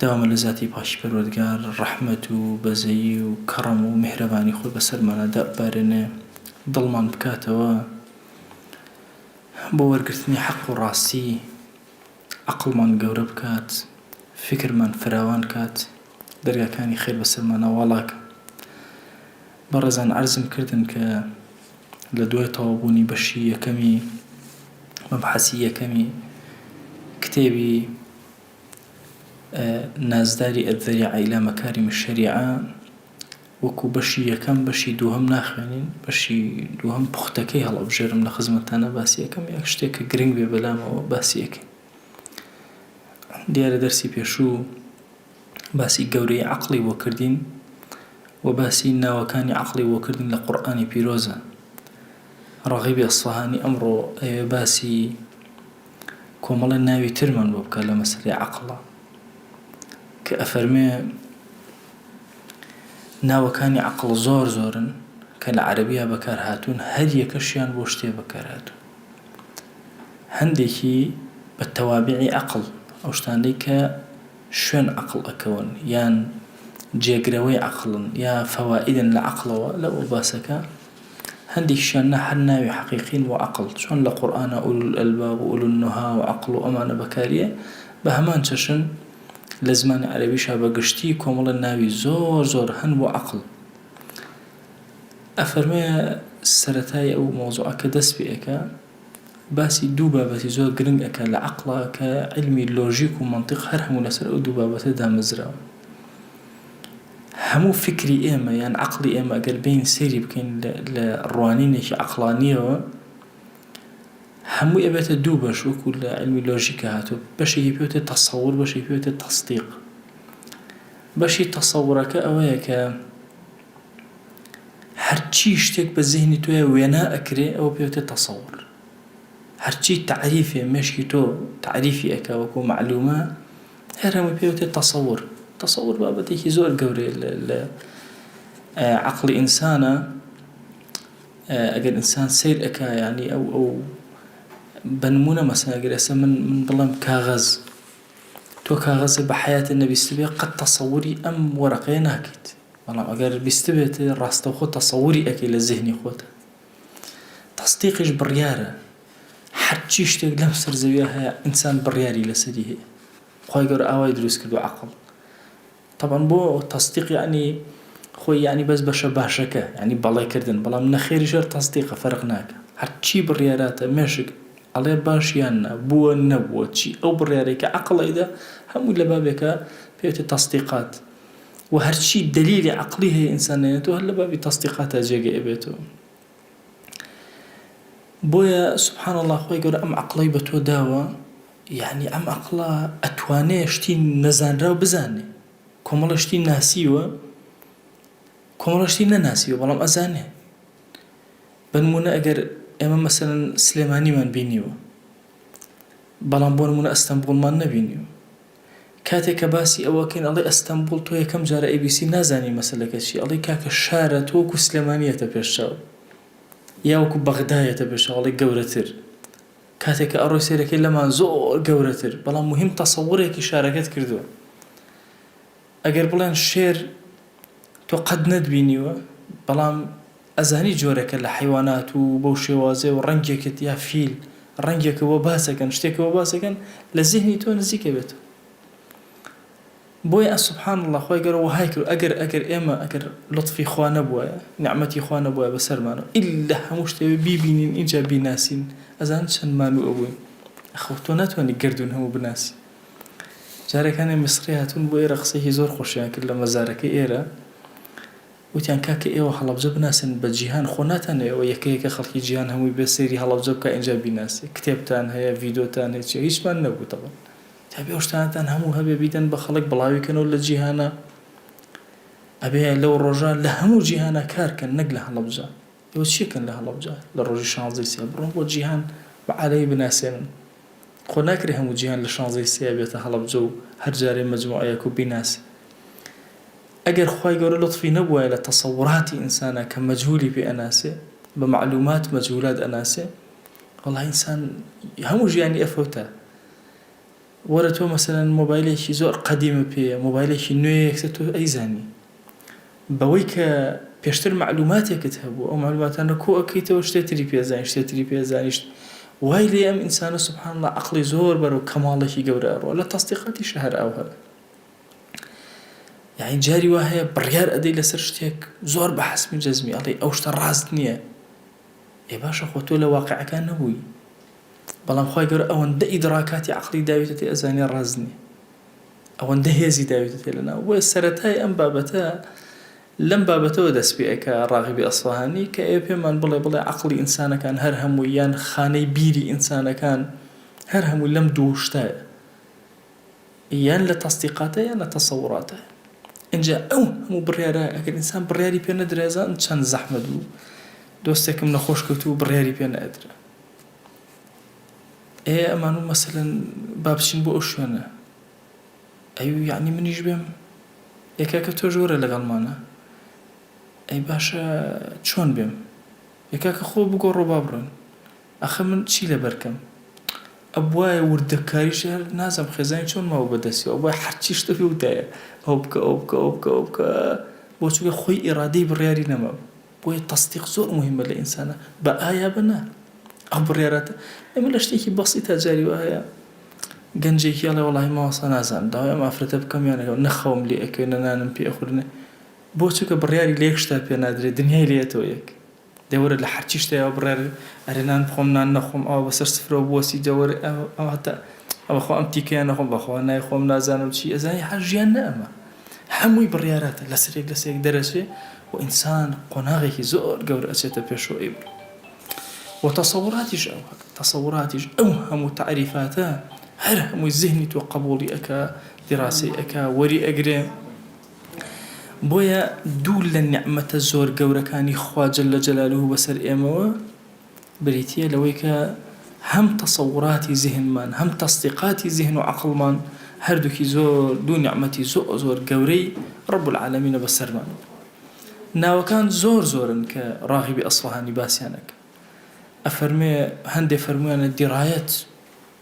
داوامە لە زاتی پاکی پەروەردگار ڕەحمەت و بەزەیی و کەڕەم و میهرەبانی خۆی بەسەرمانا داببارێنێ دڵمان بکاتەوە بۆ وەرگرتنی حەق و ڕاستی عەقڵمان گەورە بکات فیکرمان فراوان کات دەرگاکانی خێر بەسەرمانا واڵاکە بەڕێزان عەرزم کردن کە لە دوای تەواوبوونی بەشی یەکەمی مەبحەسی یەکەمی کتێبی نازداری الذریعە الی مکارم الشریعە وەکو بەشی یەکەم بەشی دووهەم ناخوێنین بەشی دووهەم پوختەکەی هەڵەبژێرم لە خزمەتتانا باسی ئەکەم یەک شتێک کە گرنگ بێ بەلامەوە باسی ئەکەین دیارە دەرسی پێشوو باسی گەورەی عەقڵی بۆ کردین و باسی ناوەکانی عەقڵی بۆ کردین لە قورئانی پیرۆزە ڕەغیبی ئەسفەهانی ئەمڕۆ ئەوێ باسی کۆمەڵێ ناوی ترمان بۆ بکە لە مەسەلەی عەقڵا کە ئەفەرمێ ناوەکانی عەقڵ زۆر زۆرن کە لە عەرەبیا بەکار هاتوون هەر یەکەشیان بۆ شتێ بەکار هاتوون هەندێکی بە تەوابعی عقل ئەو شتانەی کە شوێن عقل ئەکەون یان جێگرەوەی عقلن یا فەوائدن لە عقلەوە لە ئەو باسەکە هەندێکیشیان نا هەر ناوی حەقیقین بۆ عەقڵ چۆن لە قورئانا ئولو الالباب و ئولو النها و عەقڵ و ئەمانە بەکاریە بە هەمان چەشن لە زمانی عەرەبیشا بە گشتی کۆمەڵە ناوی زۆر زۆر هەن بۆ عەقڵ ئەفەرمێ سەرەتای ئەو مەوزوعە کە دەست پێ ئەکا باسی دوو بابەتی زۆر گرنگ ئەکا لە عەقڵا کە عیلمی لۆژیک و مەنتیق هەر هەموو لەسەر ئەو دوو بابەتە دامەزراوە هەموو فیکری ئێمە یان عەقڵی ئێمە ئەگەر بێین سەیری بکەین لە ڕوانینێکی عەقڵانیەوە هەمووی ئەبێتە دوو بەش وەکو لە علمی لۆژیکە هاتوو بەشێکی پێوتە تەسەور بەشێکی پێوتە تەسدیق بەشی تەسەورەکە ئەوەیە کە هەرچی شتێک بە زیهنی تۆیا وێنا ئەکرێ ئەوە پێوترێ تەسەور هەرچی تەعریفێ مێشکی تۆ تەعریفی ئەکا وەکو مەعلومە هەر هەمووی پێوترێ تەسەور تەسەور بابەتێکی زۆر گەورەیە لە لە عەقڵی ئینسانە ئەگەر ئینسان سەیر ئەکا یانی ئەو ئەو بە نمونە مەسەن ئەگەر ئێستا من من بڵێم کاغەز تۆ کاغەزێ بە حەیاتت نەبیستبێ قەت تەسەوری ئەم وەرەقەیە ناکەیت بەڵام ئەگەر بیستبێت ڕاستەوخۆ تەسەوری ئەکەی لە زهنی خۆتا تەسدیقیش بڕیارە هەرچی شتێک لەم سەر زەویە هەیە ئینسان بڕیاری لەسەری هەیە خۆی گەور ئاوای دروست کردو عقل طبعا بۆ تەسدیق یعنی خۆی یعنی بەس بەشە باشەکە ینی بەڵێکردن بەڵام نەخێری ژەر تەسدیقە فەرق ناکە هەرچی بڕیاراتە مێشک ئەڵێ باشیان نە بووە نەبووە چی ئەو بڕیارێکە عقلەیدا هەموو لە بابێکە پێێتە تەسدیقات وە هەرچی دەلیلی عەقڵی هەیە ئینسان نەیەتوە هەر لەبابی تەسدیقاتا جێگەی ئەبێتەوە بۆیە سبحان اللە خوای گەورە ئەم عەقڵەی بە تۆ داوە یعنی ئەم عەقڵە ئەتوانێ شتی نەزانراو بزانێ کۆمەڵە شتی ناسیوە کۆمەڵە شتی نەناسیوە بەڵام ئەزانێ بنمونە ئەگەر ئێمە مەسەرەن سلێمانیمان بینیوە بەڵام بۆ نمونە ئەستەمبوڵمان نەبینیوە کاتێک کە باسی ئەوەکەین ئەڵێ ئەستەمبوڵ تۆ یەکەم جارە ئەیبیسیم نازانی مەسەلەکە چیە ئەڵێی کاکە شارە تۆ وەکو سلێمانی یەتە پێش چاو یا وەکو بەغدا یەتە پێش چاو ئەڵێ گەورەتر کاتێک کە ئەڕۆی سەیرەکەی لەمان زۆر گەورەتر بەڵام مهم تەسەوڕێکی شارەکەت کردوە ئەگەر بڵێن شێر تۆ قەت نەتبینیوە بەڵام ئەزانی جۆرێکە لە حەیوانات و بەو شێوازێ و ڕەنگێکت یا فیل ڕەنگێکە بۆ باسەکەن شتێکە بۆ باسەکەن لە زیهنی تۆ نزیکە بێتەوە بۆیە سبحان اللە خۆی گەر وهای کرد ئەگەر ئەگەر ئێمە ئەگەر لطفی خوا نەبووایە نعمەتی خوا نەبووە بەسەرمانە ئللا هەموو شتێ بیبینین ئینجا بیناسین ئەزان چەند مانوو ئەبووین خەو تۆ ناتوانانی گردون هەموو بناسی جارێک هەنێ میسڕی هاتبوون بۆ ئێرە قسەیەکی زۆر خۆشیان کرد لە مەزارەکەی ئێرە وتیان کاکە ئێوە هەڵەبجە بناسن بە جیهان خۆ ناتانەوێ ئەوە یەکە یەکە خەڵکی جیهان هەمووی بێ سەیری هەڵەبجە بکا ئینجا بیناسێ کتێبتان هەیە ڤیدۆتان هەیە چیە هیچمان نەبوو دەڵێ تابێ ئەو شتانەتان هەموو هەبێ بیدەن بە خەڵک بڵاوی کەنەوە لە جیهانە ئەبێ لەو ڕۆژە لە هەموو جیهانە کار کەن نەک لە هەڵەبجە ئێوە چیەکەن لە هەڵەبجە لە ڕۆژی شانزەی سێ بڕۆن بۆ جیهان بە عالەمی بناسێنن خۆ ناکرێ هەموو جیهان لە شانزەی سێ بێتە هەڵەبجە و هەر جارێ مەجموعەیەک و بیناسێ ئەگەر خوای گەورە لوتفی نەبوایە لە تەسەوراتی ئینسانا کە مەجهولی پێ ئەناسێ بە مەعلومات مەجهولات ئەناسێ وەڵا ئینسان هەموو ژیانی ئەفەوتا وەرە تۆ مەسەلەن مۆبایلێکی زۆر قەدیمە پێیە مۆبایلێکی نوێ یەکسەر تۆ ئەیزانی بەوەی کە پێشتر مەعلوماتێکت هەبوو ئەو مەعلوماتانە کۆ ئەکەیتەوە شتێ تری پێزانیشت شتێ تری پێزانیشت وای لێ ئەم ئینسانە سبحان الله عەقڵی زۆر بەرەو کەماڵێکی گەورە ئەڕوا لە تەسدیقاتیشە هەر ئاو هەبێ یعنی جاری وا هەیە بڕیار ئەدەی لەسەر شتێک زۆر بە حەسمی جەزمی ئەڵێ ئەو شتە ڕاست نییە ئێ باشە خۆ تۆ لە واقیعەکە نەبووی بەڵام خوای گەورە ئەوەندە ئیدڕاکاتی عەقڵی داویتە تێ ئەزانێ ڕاست نییە ئەوەندە هێزی داویتە تێ لەناو بۆیە سەرەتای ئەم بابەتە لەم بابەتەوە دەست پێ ئەکا ڕاغبی ئەسفەهانی کە ئێ پێمان بڵێ بڵێ عەقڵی ئینسانەکان هەر هەمووی یان خانەی بیری ئینسانەکان هەر هەمووی لەم دوو شتە یان لە تەسدیقاتە یان لە تەسەوڕاتە ئینجا ئەو هەموو بڕیارە ئەگەر ئینسان بڕیاری پێ نەدرێزان چەند زەحمە دوو دۆستێکم نەخۆش کەوتو بڕیاری پێ نەدرا ئێ ئەمان و مەسەلەن بابچین بۆ ئەو شوێنە ئەو یعنی منیش بێم یەکەکە تۆ ژۆرە لەگەڵمانە ئەی باشە چۆن بێم یەکەکە خۆ بگۆڕۆ با بڕۆین ئاخر من چی لەبەر کەم. ئەبوایە وردەکاریشی هەر نازم خێزانی چۆن ماوە بە دەستی ئەبوایە حەرچی شتە پێ وتایە ئەوە بکە ئەوە بکە ئەوە بکە ئەوە بکە بۆ چونکە خۆی ئیرادەی بڕیاری نەما بۆیە تەسدیق زۆر موهیمە لە ئینسانا بە ئایا بە نا ئەو بڕیاراتە ئێمە لە شتێکی بەسی تا جاری وە هەیە گەنجێکی ئەڵێ وەڵی ماوەسا نازان داوای ئەم ئافرەتە بکەم یانەکەم نەخەوم لێ ئەکەوێ نەنانم پێ ئەخورنێ بۆ چونکە بڕیاری لە یەک شتا پێ نادرێت دنیای لێتەوە یەک دەوەرە لە حەرچی شتەیەوە بڕێڕی ئەرێ نان بخۆم نان نەخۆم ئەوە بەسەر سفرەوە بوەسی دەوەر ئەواتە ئەوە خۆ ئەم تیکەیە نەخۆم بەخوا نایخۆم نازانم چی ئەزانی هەر ژیان نە ئەمە هەمووی بڕیاراتە لەسەرێک لەسێک دەرەچێ و ئینسان قۆناغێکی زۆر گەور ئەچێتە پێشەوە ئەی بڕ وتەسەوڕاتیش ئەو تەسەوڕاتیش ئەو هەموو تعریفاتە هەر هەمووی زهنی تۆ قبولی ئەکا دیڕاسی ئەکا وەری ئەگرێ بۆیە دوو لە نیعمەتە زۆر گەورەکانی خوا جل جلالە بەسەر ئێمەوە بریتیە لەوەی کە هەم تەسەوراتی زیهنمان هەم تەسدیقاتی زیهن و عەقڵمان هەردووکی زۆر دوو نیعمەتی زۆر زۆر گەورەی رب العالمینە بەسەرمان ناوەکان زۆر زۆرن کە راغبی ئەسفەهانی باسیان ئەکا ئەفەرمێ هەندێ فەرموویانە دیرایەت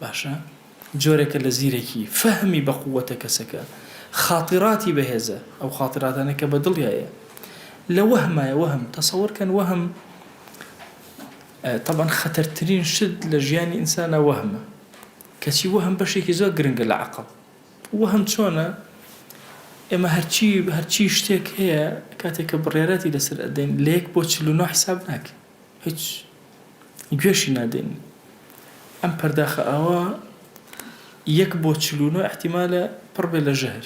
باشە جۆرێکە لە زیرەکی، فەهمی بە قووەتە کەسەکە، خاتیراتی بەهێزە، ئەو خاتیراتانە کە بە دڵیایە لە وەهمایە، وەهم، تەسەور کەن وەهم، تەبعەن خەتەرترین شت لە ژیانی ئینسانا وەهمە، کەچی وەهم بەشێکی زۆر گرنگە لە عەقڵ، وەهم چۆنە، ئێمە هەرچی هەرچی شتێک هەیە کاتێک کە بڕیاراتی لەسەر ئەدەین لە یەک بۆ چل و نۆ حیساب ناکەین. هیچ گوێشی نادەین ئەم پەرداخە ئاوا یەک بۆ چل و نۆ احتیمالە پڕ بێ لە ژەهر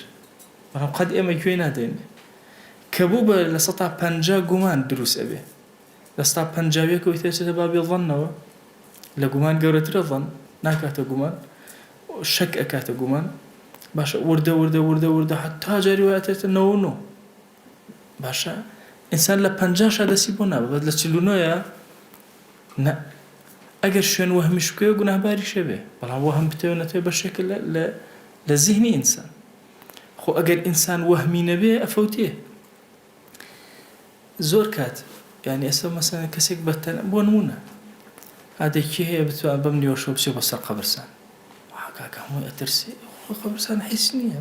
بەڵام قەت ئێمە گوێی نادەین کە بوو بە لە سەتا پەنجا گومان دروست ئەبێ لە سەتا پەنجاویەکەوەی تێچێتە بابی ڵەنەوە لە گومان گەورەترە ڵەن ناکاتە گومان شەک ئەکاتە گومان باشە وردە وردە وردە وردە حتا جاری وایەتێتە نەوە نۆ باشە ئینسان لە پەنجاشا دەستی بۆ نابا بەس لە چل و نۆیا نا ئەگەر شوێن وەهمیش بکەوێ گوناهباریشە بێ بەڵام وەهم بتەوێ نەتەوێ بەشێکە لە زیهنی ئینسان خۆ ئەگەر ئینسان وەهمی نەبێ ئەفەوتێ زۆر کات یعنی ئێستا مەسەن کەسێک بەتەن بۆ نمونە ئادێکی هەیە بتوە بەم نیوەشۆ بچێ بۆ سەر قەبرسان حکاکە هەمووی ئەترسێ قەبرسان حیس نییە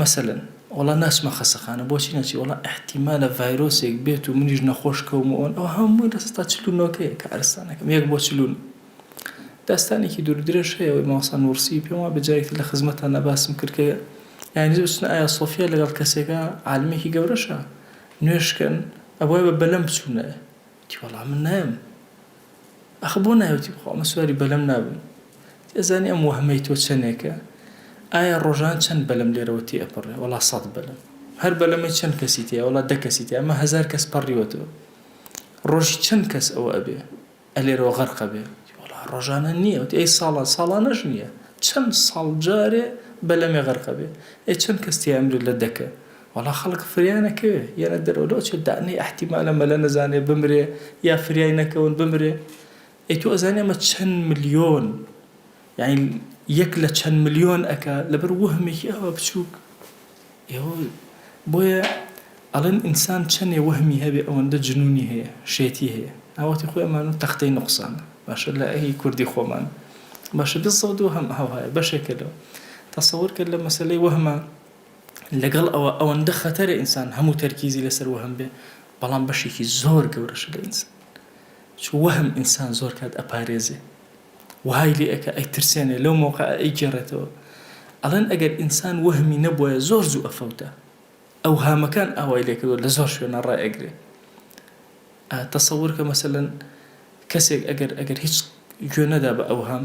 مەسەلەن وەڵا ناچمە خەسەخانە بۆچی نەچی وەڵا ئیحتیمالە ڤایرۆسێک بێت و منیش نەخۆش کەوم و ئەوان ئەوە هەمووی لە سەدا چل و نۆکەیە کارستانەکەم یەک بۆ چل و نۆ داستانێکی دوور درێژ هەیە ئەوەی مامۆستا نووڕسی پێم وابێ جارێکی تر لە خزمەتتاندا باسم کرد کە یانی دەبێ بچنە ئایا سۆفیا لەگەڵ کەسێکا عالمێکی گەورەشە نوێژ کەن ئەبوایە بە بەلەم بچوونایە وتی وەڵا من نایەم ئەخە بۆ نای وتی بەخوا من سواری بەلەم نابم وتی ئەزانی ئەم وەهمەی تۆ چەنێکە ئایا ڕۆژان چەند بەلەم لێرەوە تێ ئەپەڕێ وەڵا سەد بەلەم هەر بەلەمەی چەند کەسی تێ وەڵا دە کەسی تێ ئەمە هەزار کەس پەڕیوەتەوە ڕۆژی چەند کەس ئەوە ئەبێ ئەلێرەوە غەرق ئەبێ وەڵا ڕۆژانە نییە وتی ئەی ساڵە ساڵانەش نییە چەند ساڵ جارێ بەلەمێ غەرق ئەبێ ئەی چەند کەس تێ ئەمرێ لە دەکە وەڵا خەڵک فریا نەکەوێ یەنە دەرەوە لۆ چێ دانێ ئەحتیمالە مەلا نەزانێ بمرێ یا فریای نەکەون بمرێ ئەی تۆ ئەزانێ ئەمە چەن ملیۆن یانی یەک لە چەن ملیۆن ئەکا لەبەر وەهمێکی ئەوە بچووک ئێوە بۆیە ئەڵێن ئینسان چەنێ وەهمی هەبێ ئەوەندە جنونی هەیە شێتی هەیە ئاوەتی خۆی ئەمان و تەختەی نقصان باشە لە ئەهی کوردی خۆمان باشە بزەوت و هەم هەوهایە بەشێکە لەوە تەسەور کرد لە مەسلەی وەهمە لەگەڵ ئەوە ئەوەندە خەتەرە ئینسان هەموو تەرکیزی لەسەر وەهم بێ بەڵام بەشێکی زۆر گەورەشە لە ئینسان چ وەهم ئینسان زۆر کات ئەپارێزێ وهای لێ ئەکە ئەیترسێنێ لەو مۆقع ئەیگێڕێتەوە ئەڵێن ئەگەر ئینسان وەهمی نەبووە زۆر زوو ئەفەوتە ئەو هامەکان ئاوای لێکردو لە زۆر شوێنە ڕای ئەگرێ تەسەور کە مەسەلەن کەسێک ئەگەر ئەگەر هیچ گوێ نەدا بە ئەوهام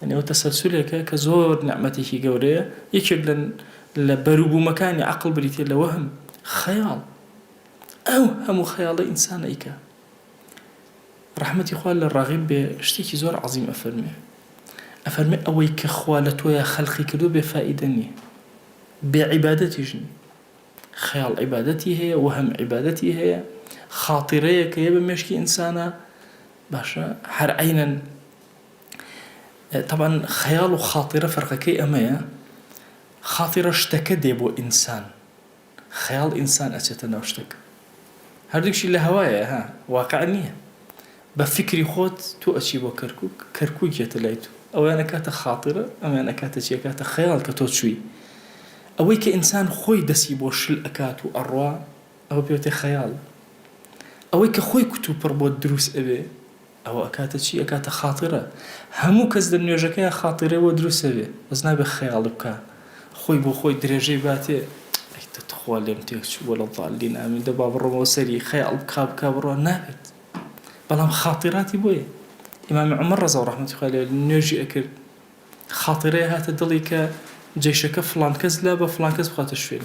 یەعنی ئەوە تەسەلسولێکە کە زۆر نیعمەتێکی گەورەیە، یەکێک لە لە بەروبوومەکانی عەقڵ بریتیە لە وەهم، خەیاڵ، ئەو هەموو خەیاڵەی ئینسان ئەیکا. ڕەحمەتی خوا لە ڕاغیب بێ شتێکی زۆر عەزیم ئەفەرموێ، ئەفەرموێ ئەوەی کە خوا لە تۆیا خەلقی کردووە بێ فائیدە نیە، بێ عیبادەتیش نیە. خەیاڵ عیبادەتی هەیە، وەهم عیبادەتی هەیە، خاتیرەیەک هەیە بە مێشکی ئینسانا، باشە هەر عەینەن، تەبعەن خەیاڵ و خاتیرە فەرقەکەی ئەمەیە خاتیرە شتەکە دێ بۆ ئینسان خەیاڵ ئینسان ئەچێتە ناو شتەکە هەردووکشی لە هەوایە ها واقع نییە بە فکری خۆت تۆ ئەچی بۆ کەرکک کەرکک یەتە لای تو ئەویان ئەکاتە خاتیرە ئەمیان ئەکاتە چیەکاتە خەیاڵ کە تۆ چووی ئەوەی کە ئینسان خۆی دەسی بۆ شل ئەکات و ئەڕوا ئەوە پێوتێ خەیاڵ ئەوەی کە خۆی کوتوپڕ بۆ دروست ئەوێ ئەوە ئەکاتە چی ئەکاتە خاتیرە هەموو کەس لە نوێژەکەیا خاتیرەی بۆ دروست ئەبێ بەس نابێ خەیاڵی بکا خۆی بۆ خۆی درێژەی باتێ ئەی تخوا لێم تێک چوو وەلە ضالین ئامین دە با بڕۆمەوە سەری خەیاڵ بکا بکا بڕۆ نابێت بەڵام خاتیراتی بۆیە ئیمام عمر رضا و رحمتی خوای لێ نوێژی ئەکرد خاتیرەی هاتە دڵی کە جەیشەکە فڵان کەس لا بە فڵان کەس بخاتە شوێن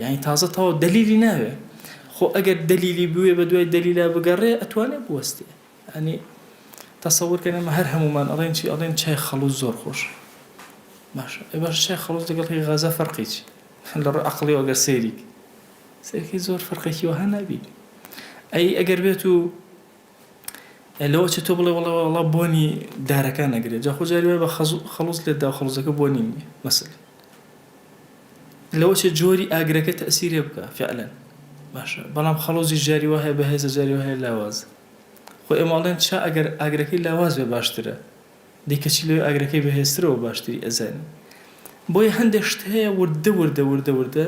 یانی تازە تەواو دەلیلی ناوێ خۆ ئەگەر دەلیلی بوێ بە دوای دەلیلا بگەڕێ ئەتوانێ بوەستێ ئەنی تەسەور کە نەمە هەر هەمومان ئەڵێن چی ئەڵێن چای خەڵوز زۆر خۆش باش ئێ باش چای خەڵوز دەگەڵی غەزە فەرقی چی لە ڕووی عەقڵیەوە گەر سەیریک سەیرکی زۆر فەرقێکی وەها نابی ئەی ئەگەر بێت و لەوە چێ تۆ بڵێ وەڵا وەڵا بۆنی دارەکان ئەگرێ جا خۆ جاری وایە بە خەزو خەڵوز لێت دا و خەڵوزەکە بۆنی نییە مەسەلەن لەوە چێ جۆری ئاگرەکە تەئسیرێ بکا فیعلەن باشە بەڵام خەڵوزیش جاری وا هەیە بەهێزە جاری وا هەیە لاوازە خۆ ئێمە ئەڵێن چا ئەگەر ئاگرەکەی لاواز بێ باشترە دەی کەچی لەوێ ئاگرەکەی بەهێزترە و باشتری ئەزانی بۆیە هەندێ شت هەیە وردە وردە وردە وردە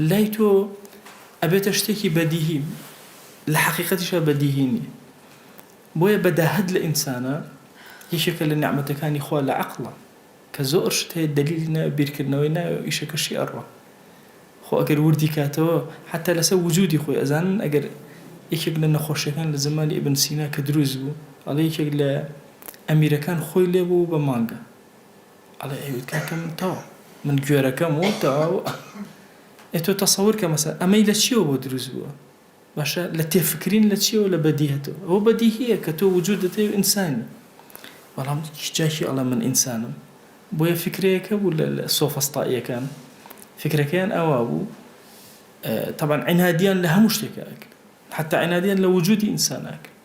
لای تۆ ئەبێتە شتێکی بەدیهی لە حەقیقەتیشا بەدیهی نییە بۆیە بەداهەت لە ئینسانە یەکێکە لە نعمەتەکانی خوا لە عەقڵە کە زۆر شت هەیە دەلیلی ناوێ بیرکردنەوەی ناوێ و ئیشەکەشی ئەڕوا خۆ ئەگەر وردی کاتەوە حەتتا لەسەر وجودی خۆی ئەزانن ئەگەر یەکێک لە نەخۆشیەکان لە زمانی ابن سینا کە دروست بوو ئەڵێ یەکێک لە ئەمیرەکان خۆی لێ بوو بە مانگە ئەڵێ ئەیوت کاکە من تەواو من گوێرەکەم و تەواو ئێ تۆ تەسەور کە مەسەلە ئەمەی لە چیەوە بۆ دروست بووە؟ باشە لە تێفکرین لە چیەوە لە بەدیهەتەوە ئەوە بەدیهیە کە تۆ وجودت هەیە و ئینسانی بەڵام جا کێ ئەڵێ من ئینسانم بۆیە فکرەیەک هەبوو لە سۆفەستائیەکان فکرەکەیان ئەوا بوو تەبعەن عینادیان لە هەموو شتێکا ئەکرد حەتا عینادیان لە وجودی ئینسانا ئەکرد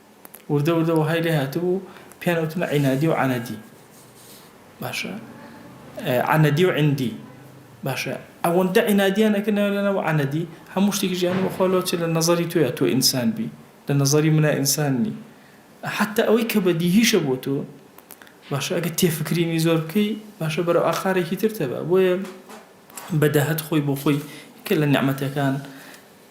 وردە وردە وەهای لێ هاتبوو پێیان ئەوتمە عینادی و عەنەدی باشە عەنەدی و عندی باشە ئەوەندە عینادیان ئەکردنەوە لەنەوە عەنەدی هەموو شتێکی ژیانی بەخۆ لۆچێ لە نەزەری تۆیە تۆ ئینسان بی لە نەزەری منە ئینسان نی حتا ئەوەی کە بەدیهیشە بۆ تۆ باشە ئەگە تێفکرینی زۆر بکەی باشە بەرەو ئاقارێکی تر تەبە بۆیە بەداهەت خۆی بۆ خۆی کە لە نعمەتەکان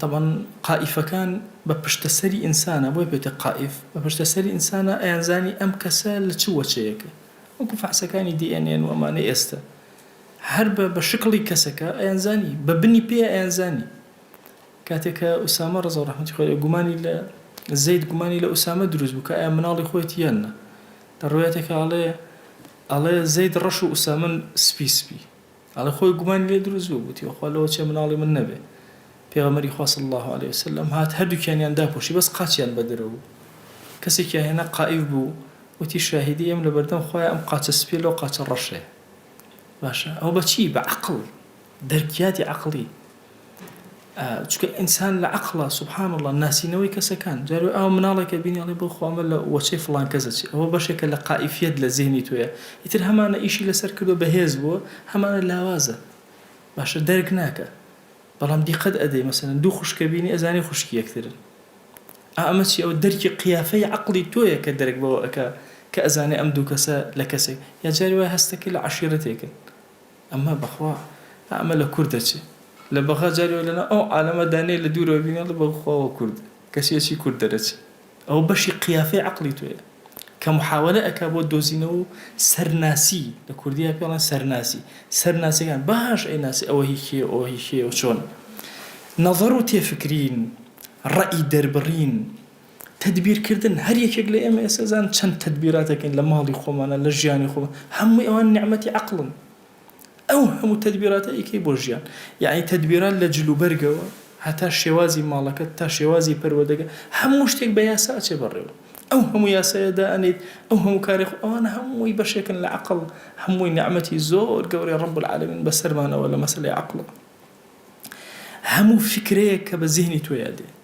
تەبعەن قائیفەکان بە پشتە سەری ئینسانە بۆیە پێوتە قائیف بە پشتە سەری ئینسانە ئەیانزانی ئەم کەسە لە چ وەچەیەکە وەکو فەحسەکانی دی ئێن ئێن و ئەمانەی ئێستە هەر بە بە شکڵی کەسەکە ئەیانزانی بە بنی پێ ئەیانزانی کاتێ کە ئوسامە ڕەزا و ڕەحمەتی خوای لێ گومانی لە زەید گومانی لە ئوسامە دروست بوو کە ئەیا مناڵی خۆیەتی یان نا لە ڕوایەتێکا ئەڵێ ئەڵێ زەید ڕەش و ئوسامە سپی سپی ئەڵێ خۆی گومانی لێ دروست بوو گوتی بەخوا لەوە چێ مناڵی من نەبێ پێغەمبەری خوا صلی اللە علیە وسلم هات هەردووکیانیان داپۆشی بەس قاچیان بەدرە بوو کەسێکیان هێنا قائیف بوو وتی شاهیدی ئێم لە بەردەم خوایە ئەم قاچە سپیە لەو قاچە ڕەشێ باشە ئەوە بەچی بە عەقڵ دەرکیاتی عەقڵی چونکە ئینسان لە عەقڵە سبحان اللە ناسینەوەی کەسەکان جار وای ئاوا مناڵێکە بینی ئەڵێ بەوخوا ئەمە لە وەچەی فڵان کەس ئەچێ ئەوە بەشێکە لە قائیفیەت لە زیهنی تۆیە ئیتر هەمانە ئیشی لەسەر کردوە بەهێز بووە هەمانە لاوازە باشە دەرک ناکا بەڵام دیقەت ئەدەی مەسەن دوو خوشکە بینی ئەزانی خوشکی یەکترن ئەمە چی ئەو دەرکی قیافەی عقلی تۆیە کە دەرک بەوە ئەکا کە ئەزانێ ئەم دوو کەسە لە کەسێک یا جاری وای هەستەکە لە عەشیرەتێکن ئەمە بەخوا ئەمە لە کورد دەچێ لە بەغا جاری وەک لەناو ئەو عالەمە دا نێ لە دوورەوە بینێ ئەڵێ بەخوا ئەوە کوردە کەچی ئەچی کورد دەرەچێ ئەوە بەشی قیافەی عەقڵی تۆیە کە محاوەلە ئەکا بۆ دۆزینەوە و سەرناسی لە کوردیا پێ ئەڵێن سەرناسی سەرناسیەکان باش ئەیناسی ئەوە هی کێیە ئەوە هی کێیە و چۆن نەزەر و تێفکرین ڕەئی دەربڕین تەدبیر کردن، هەر یەکێک لە ئێمە ئێستا زان چەند تەدبیرات دەکەین لە ماڵی خۆمانا لە ژیانی خۆ هەمووی ئەوان نیعمەتی عەقڵن ئەو هەموو تەدبیراتە ئەیکەی بۆ ژیان یەعنی تەدبیرات لە جل و بەرگەوە هەتا شێوازی ماڵەکەت تا شێوازی پەروەدەگە هەموو شتێک بە یاسا ئەچێ بەڕێوە ئەو هەموو یاسایە دا ئەنێیت ئەو هەموو کارێ خۆ ئەوانە هەمووی بەشێکن لە عەقڵ هەمووی نیعمەتی زۆر گەورەی ڕەب العالمین بەسەرمانەوە لە مەسەلەی عەقڵەوە هەموو فیکرەیەک کە بە زیهنی تۆیا دێ.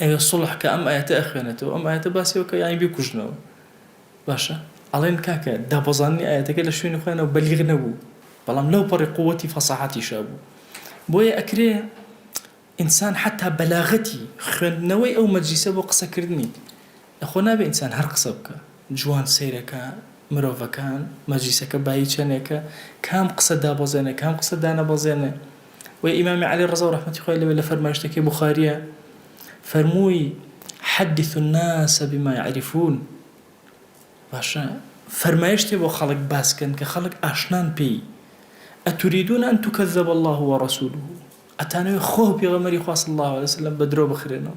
ئەوێ سوڵح کە ئەم ئایەتە ئەخوێنێتەوە ئەم ئایەتە باسی ئەوەکە یانی بیکوژنەوە باشە ئەڵێن کاکە دابەزاندنی ئایەتەکە لە شوێنی خۆیانەوە بەلیغ نەبوو بەڵام لەو پەڕی قووەتی فەساحەتیشا بوو بۆیە ئەکرێ ئینسان حتا بەلاغەتی خوێندنەوەی ئەو مەجلیسە بۆ قسەکردنی ئەخۆ نابێ ئینسان هەر قسە بکە جوان سەیرەکە مرۆڤەکان مەجلیسەکە بایی چەنێکە کام قسە دابەزێنێ کام قسە دانەبەزێنێ وەی ئیمامی علی ڕزا و ڕەحمەتی خوای لێبێت لە فەرمایشتەکەی بوخاریە فەرمووی، حدثوا الناس بما یعرفون، باشە فەرمایشتێ بۆ خەڵک باس کەن کە خەڵک ئاشنان پێی، اتریدون ان تکذب الله ورسوله، ئەتانەوێ خوا و پێغەمبەری خوا صلی اللە علیە وسلم بە درۆ بخرێنەوە؟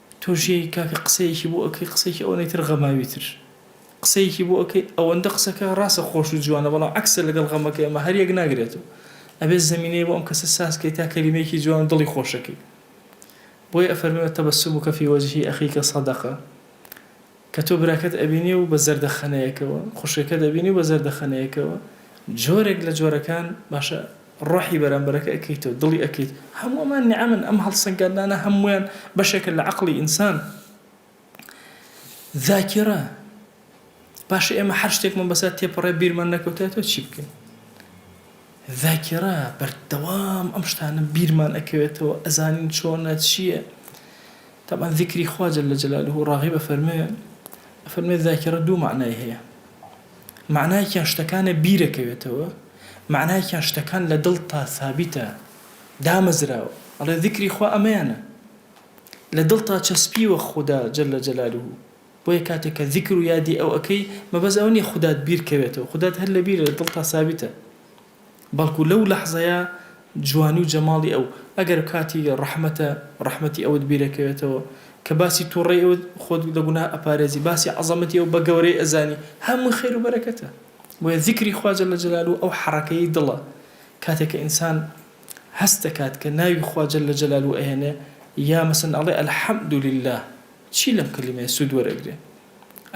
تۆ ژیای کاکە قسەیەکی بۆ ئەکەی قسەکی ئەوەنەی تر غەماوی تر قسەیەکی بۆ ئەکەی ئەوەندە قسەکە ڕاستە خۆش و جوانە بەڵام عەکسە لەگەڵ غەمەکەی ئەمە هەر یەک ناگرێت و ئەبێت زەمینەی بۆ ئەم کەسە ساز کەی تا کەلیمەیەکی جوان و دڵی خۆشەکەی بۆیە ئەفەرمێ و تبسمک فی وجه اخیک صدقە کە تۆ براکەت ئەبینی و بە زەردەخەنەیەکەوە، خوشکەکەت ئەبینی و بە زەردەخەنەیەکەوە، جۆرێک لە جۆرەکان، باشە ڕۆحی بەرامبەرەکە ئەکەیتەوە، دڵی ئەکەیت، هەموو ئەمان نیعەمن، ئەم هەڵسەنگاندنانە هەموویان بەشێکە لە عەقڵی ئینسان. ذاکیرە، باشە ئێمە هەر شتێکمان بەسەر تێپەڕێ بیرمان نەکەوتایەتەوە چی بکەین؟ ذاکیرە، بەردەوام ئەم شتانە بیرمان ئەکەوێتەوە، ئەزانین چۆنە، چییە. تەبعەن زیکری خوا جل جلالە ڕاغب ئەفەرموێ ئەفەرموێ زاکیڕە دوو مەعنای هەیە مەعنایەکیان شتەکانە بیرەکەوێتەوە مەعنایەکیان شتەکان لە دڵتا سابیتە دامەزراوە ئەڵێ زیکری خوا ئەمەیانە لە دڵتا چەسپیوە خودا جل جلالە بۆیە کاتێک کە زیکر و یادی ئەو ئەکەی مەبەست ئەوە نیە خودات بیرکەوێتەوە خودات هەر لە بیرە لە دڵتا سابیتە بەڵکو لەو لەحزەیە جوانی و جەماڵی ئەو، ئەگەر کاتی ڕەحمەتە ڕەحمەتی ئەوت بیرەکەوێتەوە، کە باسی توڕەی ئەوت خۆت لە گوناه ئەپارێزی، باسی عەزەمەتی ئەو بە گەورەی ئەزانی، هەمووی خێر و بەرەکەتە. بۆیە زیکری خوا جل جلالە ئەو حەڕەکەی دڵە، کاتێک کە ئینسان هەست دەکات کە ناوی خوا جل جلالە ئەهێنێ، یا مەسەن ئەڵێ الحمدللە، چی لەم کەلیمەیە سود وەرئەگرێ؟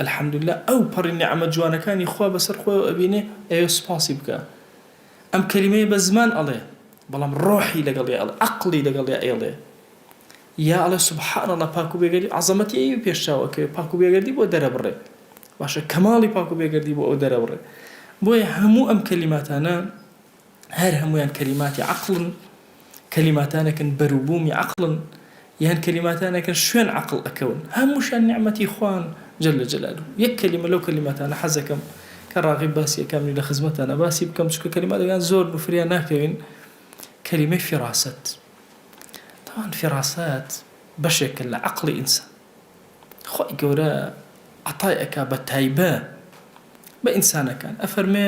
الحمدللە ئەو پەڕی نیعمەت جوانەکانی خوا بەسەر خۆیەوە ئەبینێ ئەوێ سوپاسی بکا ئەم کەلیمەیە بە زمان ئەڵێ بەڵام ڕۆحی لەگەڵیا ئەڵێ ئەقڵی لەگەڵیا ئەیڵێ یا ئەڵێ سبحان اللە پاک و بێگەردی عەزەمەتی ئەوی پێش چاو ئەکەوێ پاک و بێگەردی بۆ دەرەبڕێ باشە کەماڵی پاک و بێگەردی بۆ ئەو دەرەبڕێ بۆیە هەموو ئەم کەلیماتانە هەر هەموویان کەلیماتی عەقڵن کەلیماتانەکن بەروبوومی عەقڵن یان کەلیماتانەکن شوێن عەقڵ ئەکەون هەمووشان نیعمەتی خوان جل جلاله یەک کەلیمە لەو کەلیماتانە حەزەکەم کە ڕاغب باسی ئەکەم لە خزمەتانە باسی بکەم چونکە کەلیماتەکان زۆر نوفریا ناکەوین کەلیمەی فیراسەت تاوان فیراسەت بەشێکە لە عەقڵی ئینسان خۆی گەورە عطای ئەکا بە تایبە بە ئینسانەکان ئەفەرمێ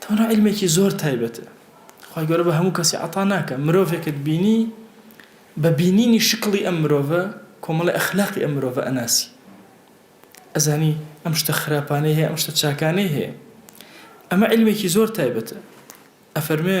توانا عیلمێکی زۆر تایبەتە خوای گەورە بە هەموو کەسی عەتا ناکا مرۆڤێکت بینی بە بینینی شکڵی ئەم مرۆڤە کۆمەڵی ئەخلاقی ئەم مرۆڤە ئەناسی ئەزانی ئەم شتە خراپانەی هەیە ئەم شتە چاکانەی هەیە ئەمە عیلمێکی زۆر تایبەتە ئەفەرمێ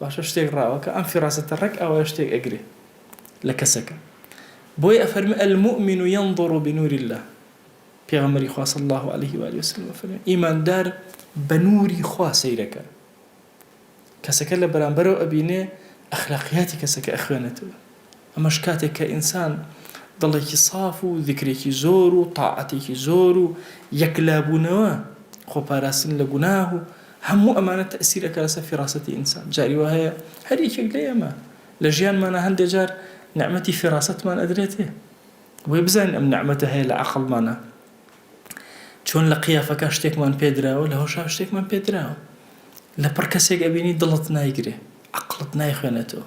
باشە شتێک ڕاوە کە ئەم فیڕاسەتە ڕێک ئاوایە شتێک ئەگرێ لە کەسەکە بۆیە ئەفەرمێ المومن ینظر بنور اللە پێغەمبەری خوا صلی اللە علیە و آله وسلم ئەفەرمێ ئیماندار بە نوری خوا سەیرەکە کەسەکە لە بەرامبەرەوە ئەبینێ ئەخلاقیاتی کەسەکە ئەخوێنێتەوە ئەمەش کاتێک کە ئینسان دڵێکی ساف و زیکرێکی زۆر و تاعەتێکی زۆر و یەکلابوونەوە، خۆپاراستن لە گوناه و هەموو ئەمانە تەئسیر ئەکا لەسەر فیراسەتی ئینسان. جاری وا هەیە هەر یەکێک لە ئێمە لە ژیانمانا هەندێ جار نیعمەتی فیراسەتمان ئەدرێتێ بۆیە بزانین ئەم نیعمەتە هەیە لە عەقڵمانا چۆن لە قیافەکا شتێکمان پێ دراوە لە هۆشا شتێکمان پێ دراوە لە پڕ کەسێک ئەبینی دڵت نایگرێ عەقڵت نایخوێنێتەوە.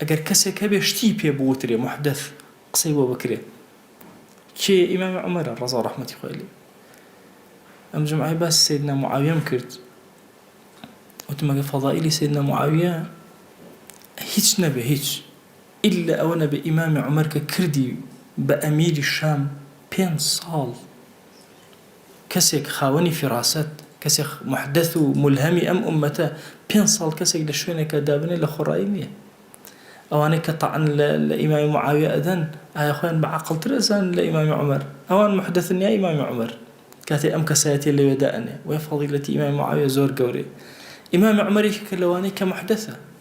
ئەگەر کەسێک هەبێ شتی پێ بوترێ محدث قسەی بۆ بکرێ کێیە ئیمامی عومەرە ڕەزاو ڕەحمەتی خوای لێ ئەم جمعای باسی سیدنا معاویەم کرد وتم ئەگەر فەضائیلی سیدنا معاویە هیچ نەبێ هیچ ئللا ئەوە نەبێ ئیمامی عومەر کە کردی بە ئەمیری شام پێنج ساڵ کەسێک خاوەنی فیڕاسەت، کەسێک موحدەث و مولهەمی ئەم ئوممەتە، پێنج ساڵ کەسێک لە شوێنێکا دابنێ لە خۆڕایی نییە. ئەوانەی کە تەعن لە لە ئیمامی موعاویە ئەدەن، ئایا خۆیان بە عاقڵتر ئەزانن لە ئیمامی عومەر؟ ئەوان موحدەثن یا ئیمامی عومەر؟ کاتێ ئەم کەسایەتیە لەوێ دائەنێ، بۆیە فەضیلەتی ئیمامی موعاویە زۆر گەورەیە. ئیمامی عومەر یەکێکە لەوانەی کە موحدەثە.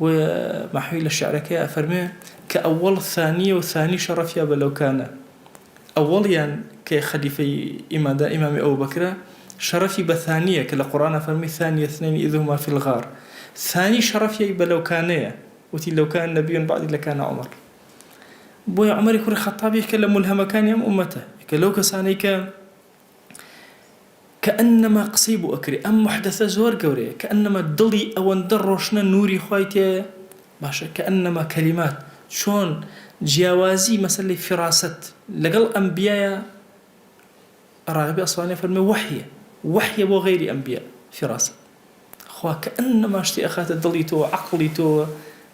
بۆیە مەحوی لە شعرەکەیا ئەفەرموێ، کە ئەوەڵ ثانیە و ثانی شەڕەفیا بە لەو کانە، ئەوەڵیان کە خەلیفەی ئیماندا ئیمامی ئەبوبەکرە شەڕەفی بە ثانیە کە لە قوڕئان ئەفەرموی ثانی اثنین اذ هما فی الغار ثانی شەڕەفیای بە لەوکانەیە وتی لوکان نبی بعدی لکان عمر بۆیە عومەری کوڕی خەتاب یەکێکە لە مولهەمەکانی ئەم ئومەتە یەکە لەو کەسانەی کە کەئەننەما قسەی بۆ ئەکرێ ئەم موحدەسە زۆر گەورەیە کەئەننەما دڵی ئەوەندە ڕۆشنە نوری خوای تیایە باشە کەئەننەما کەلیمات چۆن جیاوازی مەسەلەی فیڕاسەت لەگەڵ ئەنبیایە ڕاغبی ئەسفەهانی ئەفەرموێ وەحیە وەحیە بۆ غەیری ئەنبیا فیڕاسەت خوا کەئەننەما شتێ ئەخاتە دڵی تۆوە عەقڵی تۆوە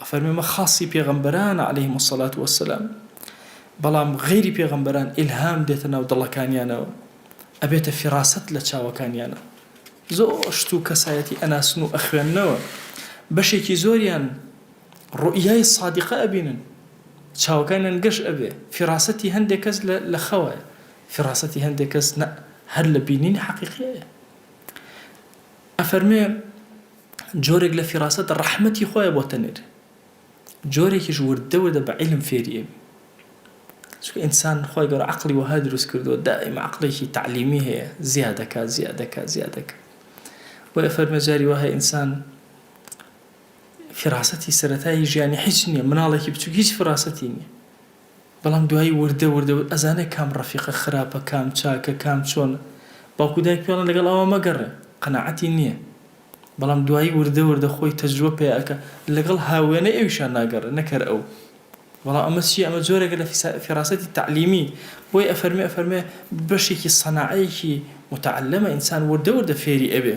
ئەفەرمێ مە خاصی پێغەمبەرانە علیهم الصلوة والسلام بەڵام غەیری پێغەمبەران ئیلهام دێتە ناو دڵەکانیانەوە ئەبێتە فیڕاسەت لە چاوەکانیانە زۆر شت و کەسایەتی ئەناسن و ئەخوێننەوە بەشێکی زۆریان ڕوئیای صادقە ئەبینن چاوەکانیان گەش ئەبێ فیڕاسەتی هەندێک کەس لە خەوە فیڕاسەتی هەندێک کەس هەر لە بینینی حەقیقیە ئەفەرمێ جۆرێک لە فیراسەت ڕەحمەتی خۆیە بۆ تەنێر جۆرێکیش وردە وردە بە عیلم فێری ئەبی چونکە ئینسان خۆی گەورە عەقڵی وەها دروست کردووە دائیم عەقڵێکی تەعلیمی هەیە زیادەکە زیادەکە زیادەکە بۆیە فەرمە جاری وەها ئینسان فراسەتی سەرەتایی ژیانی هیچ نییە مناڵێکی بچووک هیچ فراسەتی نییە بەڵام دوایی وردە وردە وت ئەزانێ کام ڕەفیقە خراپە کام چاکە کام چۆنە باوک و دایک پێڵێن لەگەڵ ئەوا مەگەڕێ قەناعەتی نیە بەڵام دوایی وردە وردە خۆی تەجروە پەیا ئەکا لەگەڵ هاووێنەی ئەویشا ناگەڕێ نەک هەر ئەو بەڵام ئەمە چیە ئەمە جۆرێکە لە فیراسەتی تەعلیمی بۆی ئەفەرمێ ئەفەرمێ بەشێکی سەناعەیەکی موتەعەلەمە ئینسان وردە وردە فێری ئەبێ.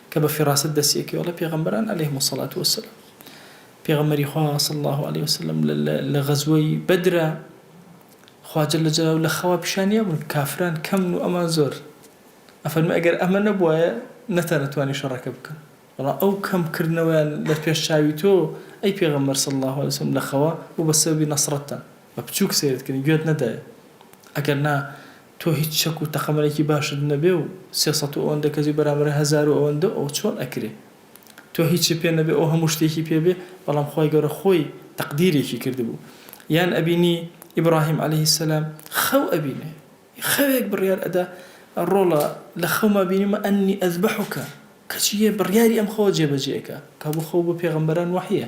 کە بە فیڕاست دەستی ئەکەوێ ئەڵێ پێغەمبەران علیهم الصلوة والسلام پێغەمبەری خوا صلی اللە علیە وسلم لە غەزوەی بەدرا خوا جل جلاو لە خەوا پیشانیا بوون کافران کەمن و ئەمان زۆر ئەفەرمی ئەگەر ئەمە نەبوایە نەتانەتوانی شەڕەکە بکەن وڵا ئەو کەم کردنەوەیان لە پێش چاوی تۆ ئەی پێغەمبەر صلی الله عليه وسلم لە خەوا بوو بە سەبی نەسرەتتان بە بچووک سەیرتکردن گوێت نەدایە ئەگەر نا تۆ هیچ چەک و تەقەمەنێکی باشت نەبێ و سێ سەد و ئەوەندە کەسی بەرامبەر هەزار و ئەوەندە و ئەوە چۆن ئەکرێ تۆ هیچت پێ نەبێ ئەو هەموو شتێکی پێ بێ بەڵام خوای گەورە خۆی تەقدیرێکی کردبوو یان ئەبینی ئیبڕاهیم عەلەیه السلام خەو ئەبینێ خەوێک بڕیار ئەدا ڕۆڵە لە خەوما بینیمە ئەنی ئەزبەحوکە کەچی یێ بڕیاری ئەم خەوە جێ بەجێ ئەکا کابوو خەو بۆ پێغەمبەران وەحیە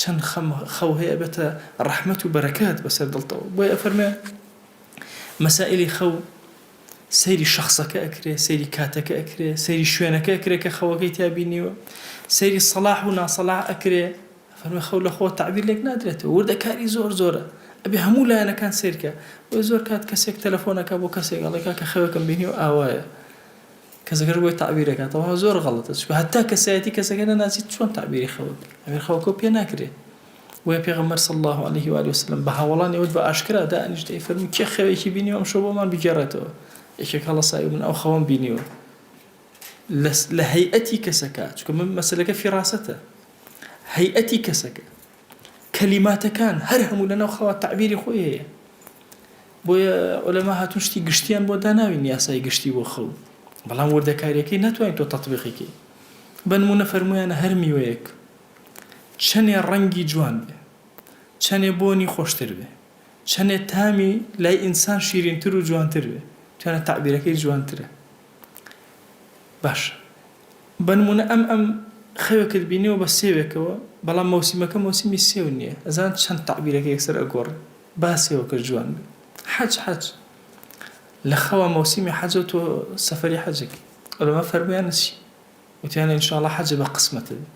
چەند خەم خەو هەیە ئەبێتە ڕەحمەت و بەرەکەت بەسەر دڵتەوە بۆیە ئەفەرموێ مەسائیلی خەو سەیری شەخسەکە ئەکرێ سەیری کاتەکە ئەکرێ سەیری شوێنەکە ئەکرێ کە خەوەکەی تیا بینیوە سەیری سەلاح و ناسەلاح ئەکرێ فەرموێ خەو لە خۆ تەعبیر لێک نادرێتەوە وردەکاری زۆر زۆرە ئەبێ هەموو لایەنەکان سەیرکە بۆیە زۆر کات کەسێک تەلەفۆنەکە بۆ کەسێک ئەڵێ کاکە خەوێکم بینی و ئاوایە کەسەکەش بۆی تەعبیر ئەکات تەواو زۆر غەڵەتە چونکە هەتا کەسایەتی کەسەکە نەناسی چۆن تەعبیری خەوت بکەی ئەوێ خەوکەو پێ ناکرێ بۆیە پێغەمبەر صلی اللە علیه و آله وسلم بە هاوەڵانی ئەوت بە ئاشکرا دانیشت ئەی فەرموو کێ خەوێکی بینیوە ئەمشەو بۆمان بگێڕێتەوە یەکێک هەڵەسای من ئەو خەوەم بینیوە لە هەیئەتی کەسەکە چونکە من مەسلەکە فیڕاسەتە هەیئەتی کەسەکە کەلیماتەکان هەر هەموو لەناو خەوا تەعبیری خۆی هەیە بۆیە عولەما هاتوون شتی گشتیان بۆ داناوین یاسای گشتی بۆ خەو بەڵام وردەکاریەکەی ناتوانین تۆ تەطبیقی کەی بەنمونە فەرمویانە هەر میوەیەک چەنێ ڕەنگی جوان بێ چەنێ بۆنی خۆشتر بێ چەنێ تامی لای ئینسان شیرینتر و جوانتر بێ توانە تەعبیرەکەی جوانترە باشە بەنمونە ئەم ئەم خەوێکت بینیوە بە سێوێکەوە بەڵام مەوسیمەکە مەوسیمی سێو نیە ئەزان چەند تەعبیرەکە یەکسەر ئەگۆڕێ با سێوەکەش جوان بێ حەج حەج لە خەوا مەوسیمی حەجە تۆ سەفەری حەجەکەی ئەلەما فەرمویانە چی وتیانە انشاءاللە حەجە بە قسمەتە بێ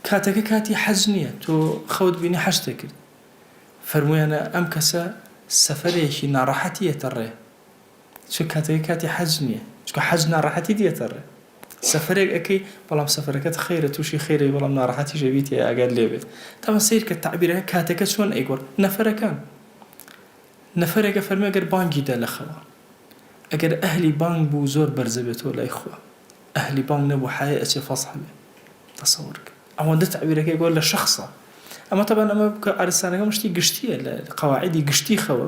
کاتەکە کاتی حەج نیە تۆ خەوت بینی حەجتە کرد فەرمویانە ئەم کەسە سەفەرێکی ناڕەحەتی یەتە ڕێ چونکە کاتەکەی کاتی حەج نیە چونکە حەج ناڕەحەتی دێتە ڕێ سەفەرێک ئەکەی بەڵام سەفەرەکەت خەیرە توشی خەیرە بەڵام ناڕەحەتیش ئەبیت یە ئاگات لێ بێت تەبەن سەیرکە تەعبیرەکە کاتەکە چۆن ئەیگۆڕ نەفەرەکان نەفەرێک ئەفەرمێ گەر بانگی دا لە خەوا ئەگەر ئەهلی بانگ بوو زۆر بەرزە بێتەوە لای خوا ئەهلی بانگ نەبوو حەیای ئەچێ فەزح بێ تەسەور کە ئەوەندە تەعبیرەکەی گۆر لە شەخصە ئەمە تەبەن ئەمە بکە عەرزستانەکەم شتی گشتیە لە قەواعیدی گشتی خەوە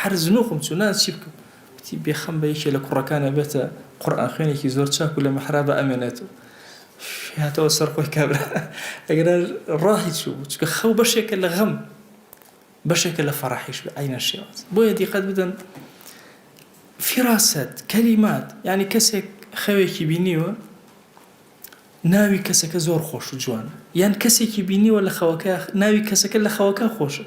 هەر زنوقم چوو نان چی بکەم وتی بێخەم بە یەکێ لە کوڕەکان ئەبێتە قورئان خوێنێکی زۆر چاک و لە محرابە ئەمێنێت و هاتەوە سەر خۆی کابرا ئەگەر ڕاهی چوو بوو چکە خەو بەشێکە لە غەم بەشێکە لە فەڕحیش بە عینە شێواز بۆیە دیقەت بدەن فراست کەلیمات ینی کەسێک خەوێکی بینیوە ناوی کەسەکە زۆر خۆش و جوانە یان کەسێکی بینیوە لە خەوەکە ناوی کەسەکە لە خەوەکە خۆشە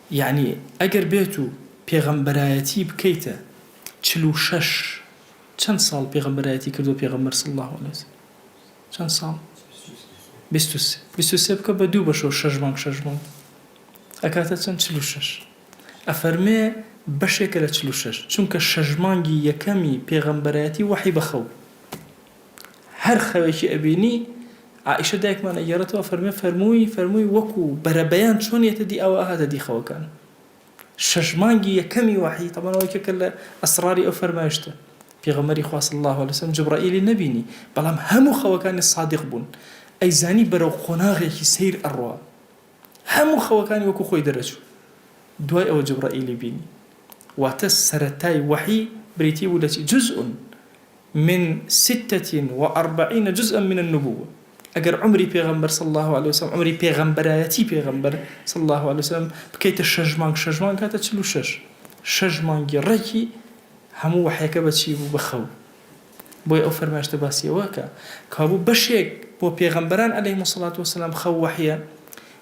یەعنی ئەگەر بێت و پێغەمبەرایەتی بکەیتە چل و شەش چەند ساڵ پێغەمبەرایەتی کردووە پێغەمبەر صلی اللە علیە وسلم چەند ساڵ بیست و سێ بیست و سێ بکە بە دوو بەشەوە شەش مانگ شەش مانگ ئەکاتە چەند چل و شەش ئەفەرمێ بەشێکە لە چل و شەش چونکە شەش مانگی یەکەمی پێغەمبەرایەتی وەحی بەخەو هەر خەوێکی ئەبینی عائیشە دایکمان ئەگێڕێتەوە ئەفەرمێ فەرمووی فەرمووی وەکو بەرەبەیان چۆن یەتە دی ئەوا ئەهاتە دی خەوەکان شەش مانگی یەکەمی وەحی تەمان ئەوەی کە لە ئەسراری ئەو فەرمایشتە پێغەمەری خوا صلی الله علیه وسلم جبرائیلی نەبینی بەڵام هەموو خەوەکانی صادق بوون ئەیزانی بەرەو قۆناغێکی سیر ئەڕوا هەموو خەوەکانی وەکو خۆی دەرەچوو دوای ئەوە جبرائیلی بینی واتە سەرەتای وەحی بریتی بوو لە چی جزء من ستە و ئەربعین جزءا من النبووە، ئەگەر عومری پێغەمبەر صلی اللە علیە و سلم، عومری پێغەمبەرایەتی پێغەمبەر صلی اللە علیە و سلم، بکەیتە شەش مانگ، شەش مانگ کاتە چل و شەش، شەش مانگی ڕێکی هەموو وەحیەکە بە چی بوو؟ بە خەو. بۆیە ئەو فەرمایشتە باسی ئەوە ئەکا کەوابوو بەشێک بۆ پێغەمبەران علیهم الصلوة والسلام خەو وەحیە،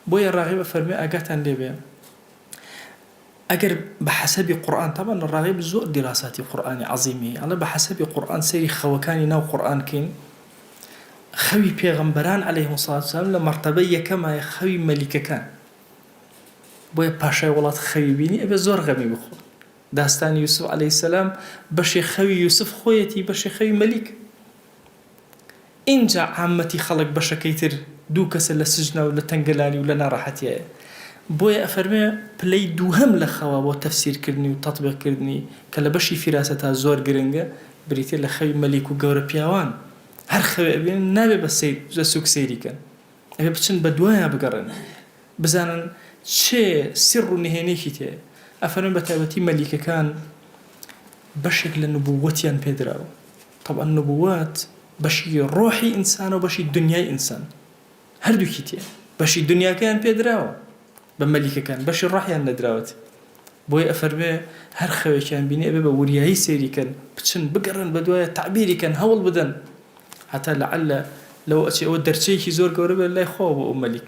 بۆیە ڕاغب ئەفەرموێ ئاگاتان لێبێ، ئەگەر بە حەسەبی قورئان، تەبعەن لە ڕاغیب زۆر دیراساتی قورئانی عەزیم هەیە، ئەڵێ بە حەسەبی قورئان سەیری خەوەکانی ناو قورئان کەین، خەوی پێغەمبەران علیهم الصلوة والسلام لە مەرتەبەی یەکەمە یە خەوی مەلیکەکان، بۆیە پاشای وڵات خەوی بینی ئەبێ زۆر غەمی بخۆن، داستانی یوسف علیه السلام بەشێ خەوی یوسف خۆیەتی بەشێ خەوی مەلیک. ئینجا عامەتی خەڵک بەشەکەی تر دوو کەسە لە سجنە و لە تەنگەلانی و لە ناڕەحەتیایە بۆیە ئەفەرموێ پلەی دووهەم لە خەوا بۆ تەفسیر کردنی و تەتبیق کردنی کە لە بەشی فیراسەتا زۆر گرنگە بریتیە لە خەوی مەلیک و گەورە پیاوان هەر خەوێ ئەبینن نابێ بە سەیر جە سوک سەیری کەن ئەبێ بچن بە دوایا بگەڕێن بزانن چ سر و نهێنیەکی تێیە ئەفەرمن بەتایبەتی مەلیکەکان بەشێک لە نبووەتیان پێدراوە تەبعەن نبووەت بەشی ڕۆحی ئینسانەو بەشی دنیای ئینسان هەردووکی تێیە بەشی دنیاکەیان پێدراوە بە مەلیکەکان بەشی ڕۆحیان نەدراوەت بۆی ئەفەرمێ هەر خەوێکیان بینی ئەبێ بە وریایی سەیری کەن بچن بگەڕێن بەدوایە تەعبیری کەن هەوڵ بدەن هەتا لەعەلە لەوە ئەچێ ئەوە دەرچەیەکی زۆر گەورە بێت لای خۆ بۆ ئەو مەلیک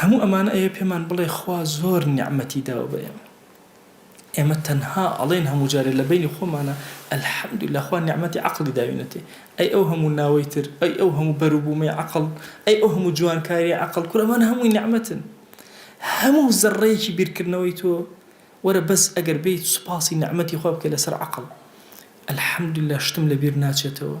هەموو ئەمانە ئەوێ پێمان بڵێ خوا زۆر نیعمەتی داوە بە ئێمە. ئێمە تەنها ئەڵێن هەموو جارێ لە بەینی خۆمانا الحمدللە خوا نیعمەتی عەقڵی داوینەتێ. ئەی ئەو هەموو ناوەی تر، ئەی ئەو هەموو بەر و بوومەی عەقڵ، ئەی ئەو هەموو جوانکارییەی عەقڵ، کورە ئەمانە هەمووی نیعمەتن. هەموو زەڕڕەیەکی بیرکردنەوەی تۆ، وەرە بەس ئەگەر بێیت سوپاسی نیعمەتی خوا بکەی لەسەر عەقڵ. الحمدللە شتم لە بیر ناچێتەوە.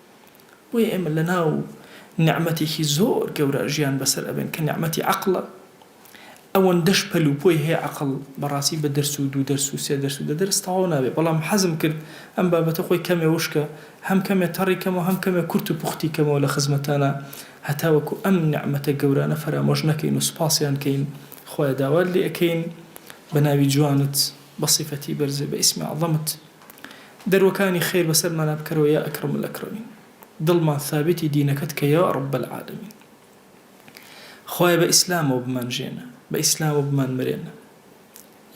بۆیە ئێمە لەناو نیعمەتێکی زۆر گەورە ژیان بەسەر ئەبەین کە نیعمەتی عەقڵە، ئەوەندەش پەل و پۆی هەیە عەقڵ بەڕاستی بە دەرس و دوو دەرس و سێ دەرس و دە دەرس تەواو نابێت بەڵام حەزم کرد ئەم بابەتە خۆی کەمێ وشکە هەم کەمێ تەڕی کەمەوە هەم کەمێ کورت و پوختی کەمەوە لە خزمەتانا هەتاوەکو ئەم نیعمەتە گەورانە فەرامۆش نەکەین و سوپاسیان کەین خوایە داوات لێ ئەکەین بە ناوی جوانت بە سیفەتی بەرزت بە ئیسمی عەزەمت دەروەکانی خێر بەسەرمانا بکەرەوە یا اکرم الاکرمین دڵمان ثابتی دینەکەت کە یا رب العالمین خوایە بە ئیسلامەوە بمان ژێنە بە ئیسلامەوە بمان مرێنە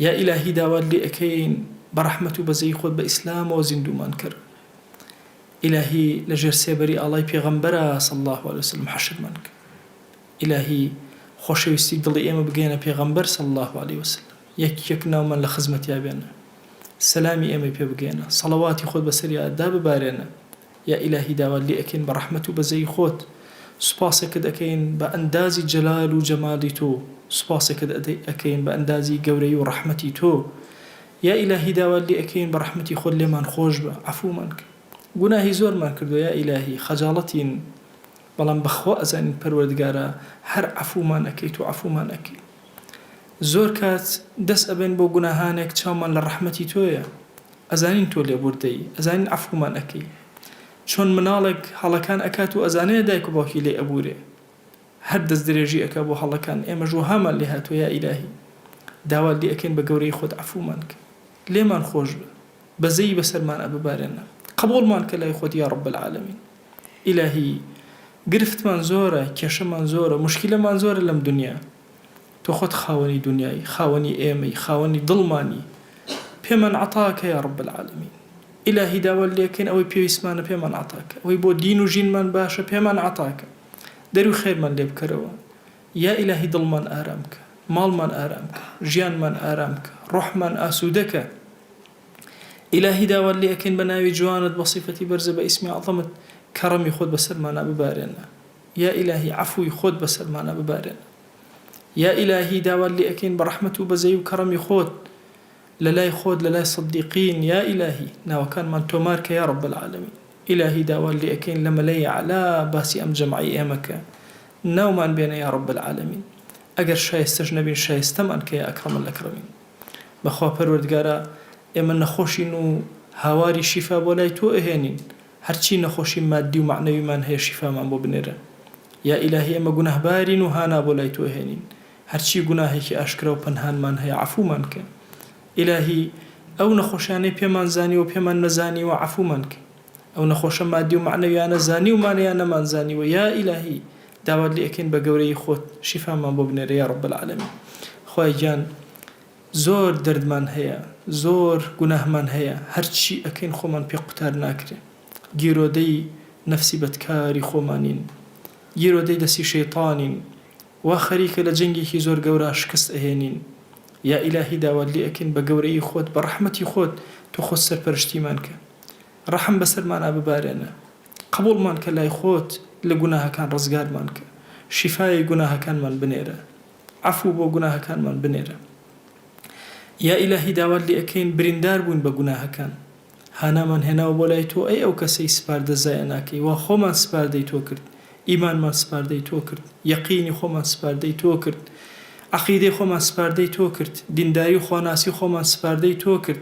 یا الهی داوات لێ ئەکەین بە رەحمەت و بەزەیی خۆت بە ئیسلامەوە زیندوومان کەر الهی لە ژێر سێبەری ئاڵای پێغەمبەرا صلی اللە علیە وسلم حەشرمان کە الهی خۆشەویستی دڵی ئێمە بگەیەنە پێغەمبەر صلی اللە علیە وسلم یەک یەک ناومان لە خزمەتیا بێنە. سەلامی ئێمەی پێ بگەیەنە. صەڵەواتی خۆت بەسەریا دا ببارێنە. یا ئیلاهی داوات لێ ئەکەین بە ڕەحمەت و بەزەیی خۆت. سوپاسێکت ئەکەین بە ئەندازی جەلال و جەمالی تۆ. سوپاسێکت ئەکەین بە ئەندازی گەورەیی و ڕەحمەتی تۆ. یا ئیلاهی داوات لێ ئەکەین بە ڕەحمەتی خۆت لێمان خۆش بە. عەفوومان کە. گوناهی زۆرمان کردووە یا ئیلاهی. خەجاڵەتین. بەڵام بەخوا ئەزانین پەروەردگارا هەر عەفوومان ئەکەیت و عەفوومان ئەکەی. زۆر کات دەست ئەبەین بۆ گوناهانێک چاومان لە ڕەحمەتی تۆیە ئەزانین تۆ لێبوردەی ئەزانین عەفومان ئەکەی چۆن مناڵێک هەڵەکان ئەکات و ئەزانێ دایک و باوکی لێی ئەبورێ هەر دەست درێژی ئەکا بۆ هەڵەکان ئێمەش وەهامان لێ هاتوە یا ئیلاهی داوات لێ ئەکەین بە گەورەی خۆت عەفومان کە لێمان خۆش بە بەزەیی بەسەرمان ئەببارێنە قەبوڵمان کە لای خۆت یا رب العالمین. ئیلاهی گرفتمان زۆرە کێشەمان زۆرە موشکیلەمان زۆرە لەم دونیا تۆ خۆت خاوەنی دونیای خاوەنی ئێمەی خاوەنی دڵمانی پێمان عەتاکە یا رب العالمین ئیلاهی داوات لێکەین ئەوەی پێویستمانە پێمان عەتاکە ئەوەی بۆ دین و ژینمان باشە پێمان عەتاکە دەروی خێرمان لێ بکەرەوە یا ئیلاهی دڵمان ئارام کە ماڵمان ئارام کە ژیانمان ئارام کە رۆحمان ئاسودە کە. ئیلاهی داوات لێ ئەکەین بە ناوی جوانت بە سیفەتی بەرزە بە ئیسمی ئەعزەمت کەڕەمی خۆت بەسەرمانا ببارێنە یا ئیلاهی عەفووی خۆت بەسەرمانا ببارێنە یا ئیلاهی داوات لێ ئەکەین بە ڕەحمەت و بەزەی و کەڕەمی خۆت لە لای خۆت لە لای سدیقین یا ئیلاهی ناوەکانمان تۆمار کە یا رب العالمین ئیلاهی داوات لێ ئەکەین لە مەلای اعلی باسی ئەم جەمعەی ئێمە کە ناومان بێنە یا رب العالمین ئەگەر شایستەش نەبین شایستەمان کە یا اکرم الاکرمین. بەخوا پەروەردگارا ئێمە نەخۆشین و هاواری شیفا بۆ لای تۆ ئەهێنین هەرچی نەخۆشی مادی و مەعنەویمان هەیە شیفامان بۆ بنێرە یا ئیلاهی ئێمە گوناهبارین و هانا بۆ لای تۆ ئەهێنین هەرچی گوناهێکی ئاشکرا و پەنهانمان هەیە عەفومان کە ئیلاهی ئەو نەخۆشیانەی پێمان زانیوە و پێمان نەزانیوە عەفومان کە. ئەو نەخۆشە مادی و مەعنەویانە زانیومان یان نەمان زانیوە یا ئیلاهی داوات لێ ئەکەین بە گەورەیی خۆت شیفامان بۆ بنێرە یا رب العالمین خوایە گیان زۆر دەردمان هەیە زۆر گوناهمان هەیە هەرچی ئەکەین خۆمان پێ قوتار ناکرێ گیرۆدەی نەفسی بەدکاری خۆمانین گیرۆدەی دەستی شەیتانین وا خەریکە لە جەنگێکی زۆر گەورا شکست ئەهێنین یا ئیلاهی داوات لێ ئەکەین بە گەورەیی خۆت بە رەحمەتی خۆت تۆ خۆت سەرپەرشتیمان کە ڕەحم بەسەرمانا ببارێنە قبوڵمان کە لای خۆت لە گوناهەکان ڕزگارمان کە شیفای گوناهەکانمان بنێرە عەفو بۆ گوناهەکانمان بنێرە یا ئیلاهی داوات لێ ئەکەین بریندار بووین بە گوناهەکان هانامان هێناوە بۆ لای تۆ ئەی ئەو کەسەی سپاردە زایە ناکەی وا خۆمان سپاردەی تۆ کرد ئیمانمان سپاردەی تۆ کرد یەقینی خۆمان سپاردەی تۆ کرد عەقیدەی خۆمان سپاردەی تۆ کرد دینداری و خواناسی خۆمان سپاردەی تۆ کرد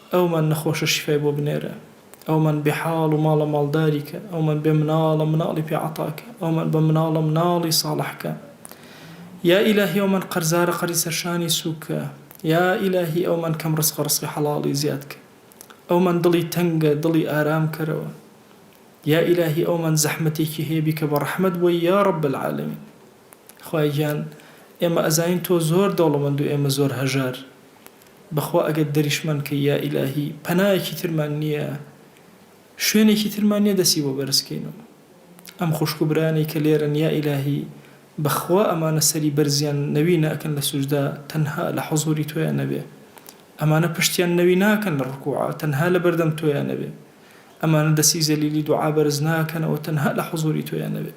ئەومان نەخۆشە شیفای بۆ بنێرە، ئەومان بێ حاڵ و ماڵە ماڵداری کە، ئەومان بێ مناڵە مناڵی پێ عەتا کە، ئەومان بە مناڵە مناڵی ساڵح کە. یا ئیلاهی ئەومان قەرزارە قەرزی سەر شانی سووک کە، یا ئیلاهی ئەومان کەم ڕزقە ڕزقی حەڵاڵی زیاد کە، ئەومان دڵی تەنگە دڵی ئارام کەرەوە، یا ئیلاهی ئەومان زەحمەتێکی هەیە بیکە بە ڕەحمەت بۆی یا رب العالمین. خوایە گیان ئێمە ئەزانین تۆ زۆر دەوڵەمەند و ئێمە زۆر هەژار، بەخوا ئەگەر دەریشمان کەی یا ئیلاهی پەنایەکی ترمان نیە شوێنێکی ترمان نیە دەسی بۆ بەرز کەین و ئەم خوشکو برایانەی کە لێرەن یا ئیلاهی بەخوا ئەمانە سەری بەرزیان نەوی ناکەن لە سوجدا تەنها لە حوزوری تۆیا نەبێ ئەمانە پشتیان نەوی ناکەن لە ڕکوعا تەنها لە بەردەم تۆیا نەبێ ئەمانە دەسی زەلیلی دوعا بەرز ناکەنەوە تەنها لە حوزوری تۆیا نەبێ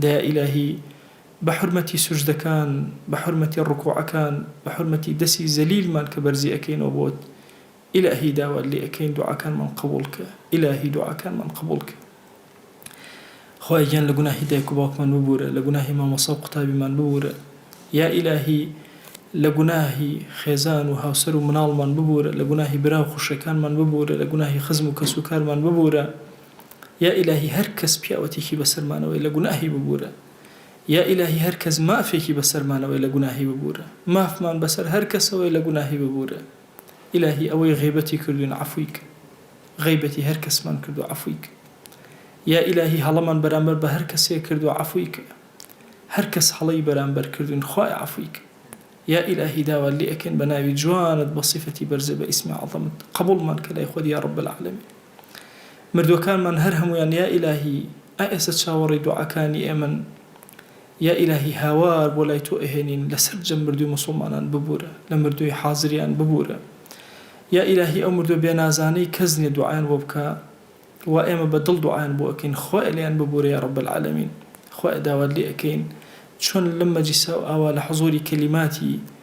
دەیا ئیلاهی بە حورمەتی سوجدەکان، بە حورمەتی ڕکوعەکان، بە حورمەتی دەسی زەلیلمان کە بەرزی ئەکەینەوە بۆت، ئیلاهی داوات لێ ئەکەین دوعاکانمان قبوڵ کە، ئیلاهی دوعاکانمان قبوڵ کە. خوایە گیان لە گوناهی دایک و باوکمان ببورە، لە گوناهی مامۆسا و قوتابیمان ببورە، یا ئیلاهی لە گوناهی خێزان و هاوسەر و مناڵمان ببورە، لە گوناهی برا و خوشکەکانمان ببورە، لە گوناهی خزم و کەس و کارمان ببورە. یا ئیلاهی هەر کەس پیاوەتیکی بەسەرمانەوەی لە گوناهی ببورە یا ئیلاهی هەر کەس مافێکی بەسەرمانەوەی لە گوناهی ببورە مافمان بەسەر هەر کەسەوەی لە گوناهی ببورە ئیلاهی ئەوەی غیبەتی کردوین عەفوی کە غیبەتی هەر کەسمان کردو عەفوی کە یا ئیلاهی هەڵەمان بەرامبەر بە هەر کەسێ کردو عەفوی کە هەر کەس هەڵەی بەرامبەر کردوین خوایە عەفوی کە یا ئیلاهی داوات لێ ئەکەین بە ناوی جوانت بە سیفەتی بەرزت بە ئیسمی عەزەمت قەبوڵمان کە لای خۆت یا رب العالمین. مردوەکانمان هەر هەمویان یا ئیلاهی ئا ئێسە چاوەڕێی دوعاکانی ئێمەن یا ئیلاهی هاوار بۆ لای تۆ ئەهێنین لە سەرجەم مردوی موسوڵمانان ببورە لە مردوی حازریان ببورە یا ئیلاهی ئەو مردوە بێ نازانەی کەس نیە دوعایان بۆ بکا وا ئێمە بە دڵ دوعایان بۆ ئەکەین خوایە لێیان ببورە یا رب العالمین خوایە داوات لێ ئەکەین چۆن لەم مەجیسا و ئاوا لە حزوری کەلیماتی